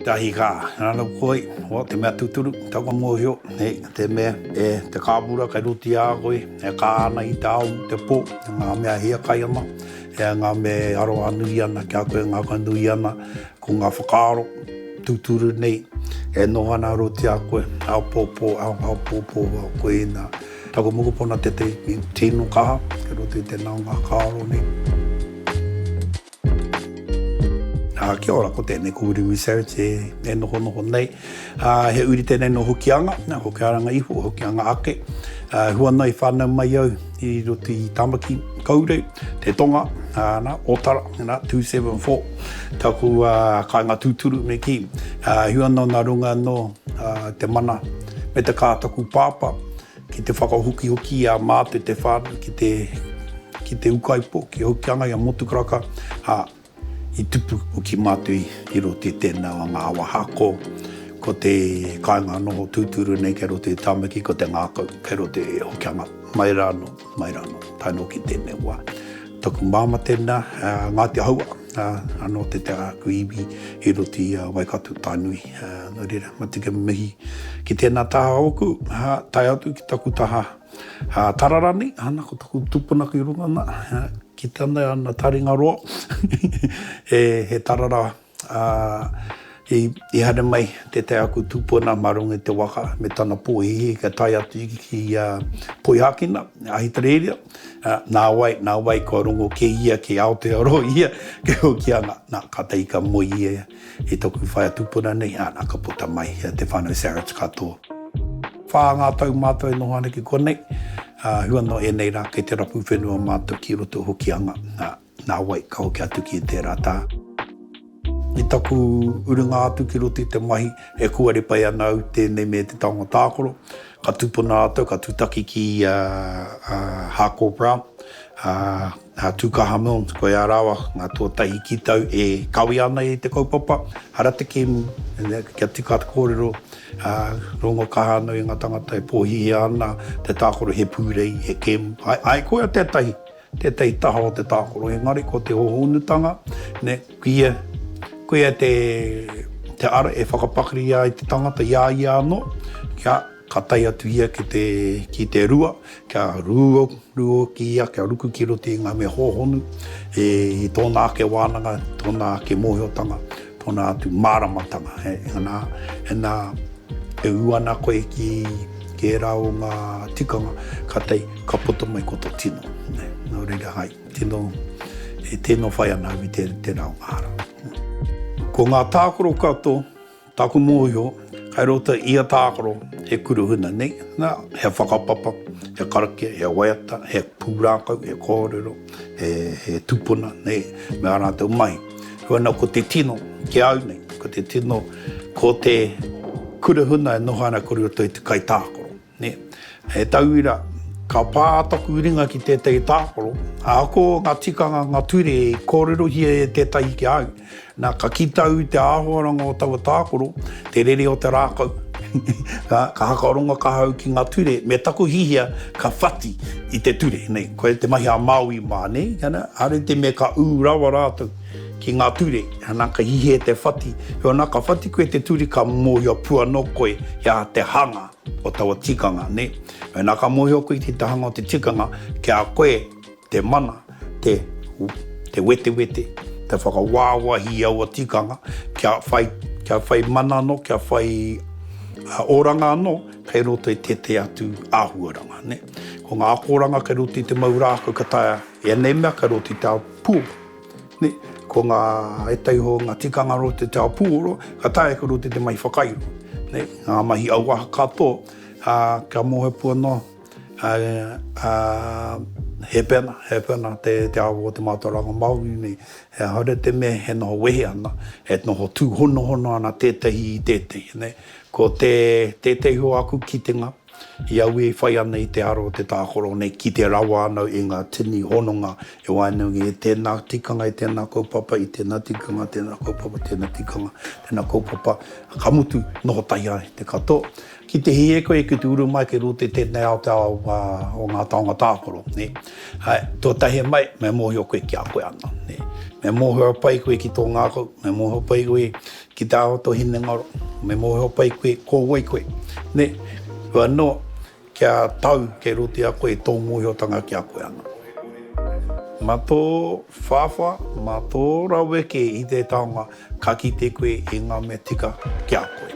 Tahi ka ranou koi, o te mea tuturu, tau ka mohio, he te mea e te kāpura kai roti a koi, e ka ana i te ao, te po, nga mea hia kai ana, e nga mea e aroha nui ana ki a koe, ngaka nui ana, ko nga whakaaro tuturu nei, e noho ana roti a koe, apopo, apopo, koina. Taku mokopuna tetei nei tino kaha kei roto i te naonga kakaaro nei. A, kia ora, ko tēnei, ko Wiremu Savage e, e nohonoho nei. A, he uri tēnei no Hokianga, nā, Hokiaranga iho, Hokianga ake. A, hua nei whānau mai au i roto i Tamaki, Kaurei, Te Tonga, a, nā, Otara, nā, 274, taku a, kāinga tūturu me kī. A, hua nō nā runga nō a, te mana. me te kā taku pāpā, ki te whakahokihoki i a Māte Te Whānau ki te, ki te ukaipo, ki Hokianga, i a Motukaraka, ā, i tupu hoki mātou i, i roto i tēnā o ngā awa hako, ko te kāinga noho tūturu nei kei roto i Tāmaki, ko te ngākau kei roto i Hokianga, mai rānō. Mai rā anō, tae nō ki tēnei wā. Taku māmā tēnā, Ngāti Ahoua, anō te te āku iwi i roto i a Waikato Tainui. Nō reira, matika mihi ki tēnā taha ōku, tae atu ki taku taha tara rānei, ana ko taku tūpuna ki runga nā, ki tana taringa roa, he tara rā. Ā, i haere mai tētahi aku tūpuna mā runga i te waka me tana pōhēhē kia tae atu ki a Poihākena, Ahitereiria, nāwai, nāwai kua rongo kē ia ki Aotearoa ia, kei Hokianga. Nā, kātahi ka moe ia i tōku whaea tūpuna nei, ā, nā, ka puta mai te whānau Sarich katoa. Whā ngā tau mātou e noho ana ki konei, ā, hua noa ēnei rā kei te rapu whenua mātou ki roto o Hokianga, ā. Nā wai, ka hoki atu ki i tērā tā. I taku urunga atu ki roto i te mahi, e kuare pai ana au tēnei me te taonga tākaro. Ka tūpono rātou, ka tūtaki ki a Harcourt Brown, a Tūkaha Milnes, ko ea rāua ngā tuatahi ki tau e kawea ana i te kaupapa, hara te kēmu, kia tika te kōrero, rongo kaha ana i ngā tāngata e pōhihia ana te tākaro he pūrei, he kēmu. Āe, koia tētahi. Tētahi taha o te tākaro, engari ko te hōhonutanga, nē, kuia, kuia te, te ara e whakapakari ai te tangata i a ia anō, kia, ka tae atu ia ki te, ki te rua, kia rūo, rūo ki ia, kia ruku ki roto i ngā mea hōhonu, i tōna ake wānanga, tōna ake mōhiotanga. Tōna atu māramatanga, he nā, he nā, e ū ana koe ki, ki ērā o ngā tikanga, kātahi ka puta mai ko tō tino. Nō reira, hai, tino, e tino whai ana au i te, tērā o ngā hara. Ko ngā tākaro katoa, tāku mōhio, kai roto i ia tākaro, he kuruhuna nei, nā, he whakapapa, he karakia, he waiata, he pūrākau, he kōrero, he, he tupuna, nei, me ā rātou mahi. Huana ko te tino, ki au nei, ko te tino, ko te kura huna e noho ana kore roto i te kai tākaro. Ne? He tauira, ka pā taku ringa ki tētahi tākaro, ako ngā tikanga, ngā ture i kōrerohia e tētahi ki au, nā, ka kita au i te āhuaranga o taua tākaro, te rere o te rākau, ka hakarongo kahau ki ngā ture, me taku hihia ka whati i te ture, nei. Koia te mahi a Māui mā, nē? Are te mea ka ū rawa rātou ki ngā ture, ana, ka hihi e te whati. Heoi anā, ka whati koe i te ture, ka mōhio pū anō koe i a te hanga o taua tikanga, nē? Heoi anā, ka mōhio koe i te hanga o te tikanga, ki a koe te mana, te, te wetewete, te whakawāwahi i aua tikanga, kia whai, kia whai mana anō, kia whai oranga anō kei roto i tētahi atu āhuaranga, nē? Ko ngā akoranga kei roto i te mau rākau ka taea i ēnei mea kei roto i te ao puoro. Ko ngā ētahi o ngā tikanga roto i te ao puoro ka taea kei roto i te mahi whakairo, ngā mahi auaha katoa kia mōhiotia noa he pena, he pena te ao o te mātauranga Māori nei. He aha rā te mea e noho wehe ana, e noho tūhonohono ana tētahi i tētahi. Ko tētahi o aku kitenga, I auē e whai ana i te ara o te tākaro nei, kite rawa ana i ngā tini hononga e waenga nei, e tēnā tikanga, e tēnā kaupapa, i tēnā tikanga, tēnā kaupapa, tēnā tikanga, tēnā kaupapa, ka mutu, noho tahi ai te katoa. Ki te hē koe, ki te uru mai kei roto i tēnei ao, te ao o ngā taonga tākaro, nē. Tuatahi mai, me mōhio koe kia koe anō, nē. Me mōhio pai koe ki tō ngākau, me mōhio pai koe Ki te aho to hinengaro, me mohoao pai koe, ko wai koe. Ne, koe ano kia tau kei roto i a koe to mohiotanga ki a koe ano. Ma to whawha, ma to raweke i te taonga ka kite koe i nga mea tika ki a koe.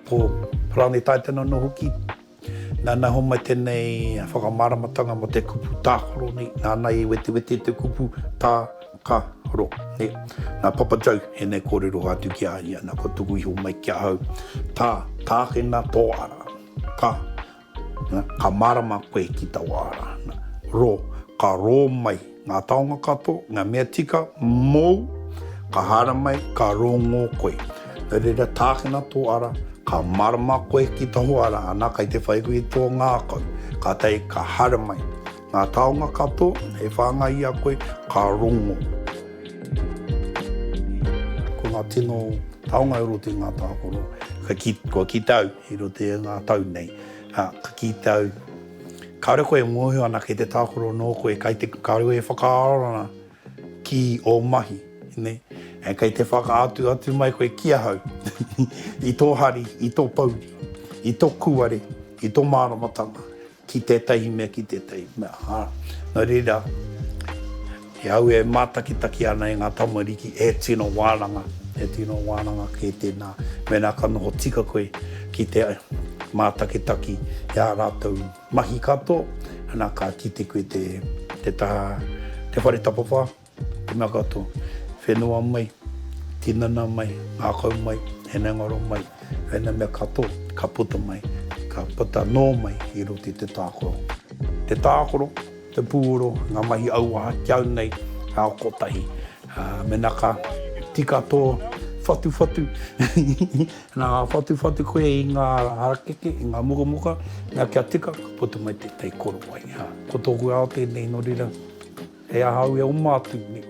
Ko Parani Taitana no hoki Nana homai tenei whakamaramatanga mo te kupu takaro nei, nana i wetewete te kupu ta-ka-ro nei. Na Papa Joe enei korero atu ki a ia, na kua tuku iho mai ki ahau, Ta takena to ara, ka, na, ka marama koe ki tau ara, na, ro, ka ro mai, Ngā taonga kato, ngā mea tika mou, ka haramai, ka rongō koe. No reira tākina tō ara, ka marama koe ki taho ara ana kai te whai hui tō ngākau. Kātahi ka haramai. Ngā taonga kato, e whāngai i a koe, ka rongō. Ko ngā tino taonga e roto i ngā tākaro, ka kī, kua kite au i roto i ngā tau nei, ka kite au. Kāore koe e mōhio ana kei te tākaro nō koe, kei te, kāore koe e whakaaro ana ki ō mahi, nē, and kei te whakaatu atu mai koe ki ahau, i tō hari, i tō pouri, i tō kūare, i tō māramatanga, ki tētahi mea, ki tētahi mea, ā, nō reira, He au e mātakitaki ana e ngā tamariki he tino wānanga, he tino wānanga kē tēnā mēnā ka noho tika koe ki te mātakitaki i ā rātou mahi katoa, ana ka kite koe te taha, te whare tapawhā, te mea katoa, whenua mai, tinana mai, ngākau mai, hinengaro mai, ēnei mea katoa ka puta mai, ka puta nō mai i roto i te tākaro. Te tākaro. Te pūoro, ngā mahi auaha ki au nei, ka oko tahi. Mena ka tika tō whatuwhatu, nā whatuwhatu koe i ngā harakeke, i ngā mukamuka, nā kia tika, ka puta mai tētahi korowai. Ko tōku ao tēnei, nō reira, he aha au e oma atu nei.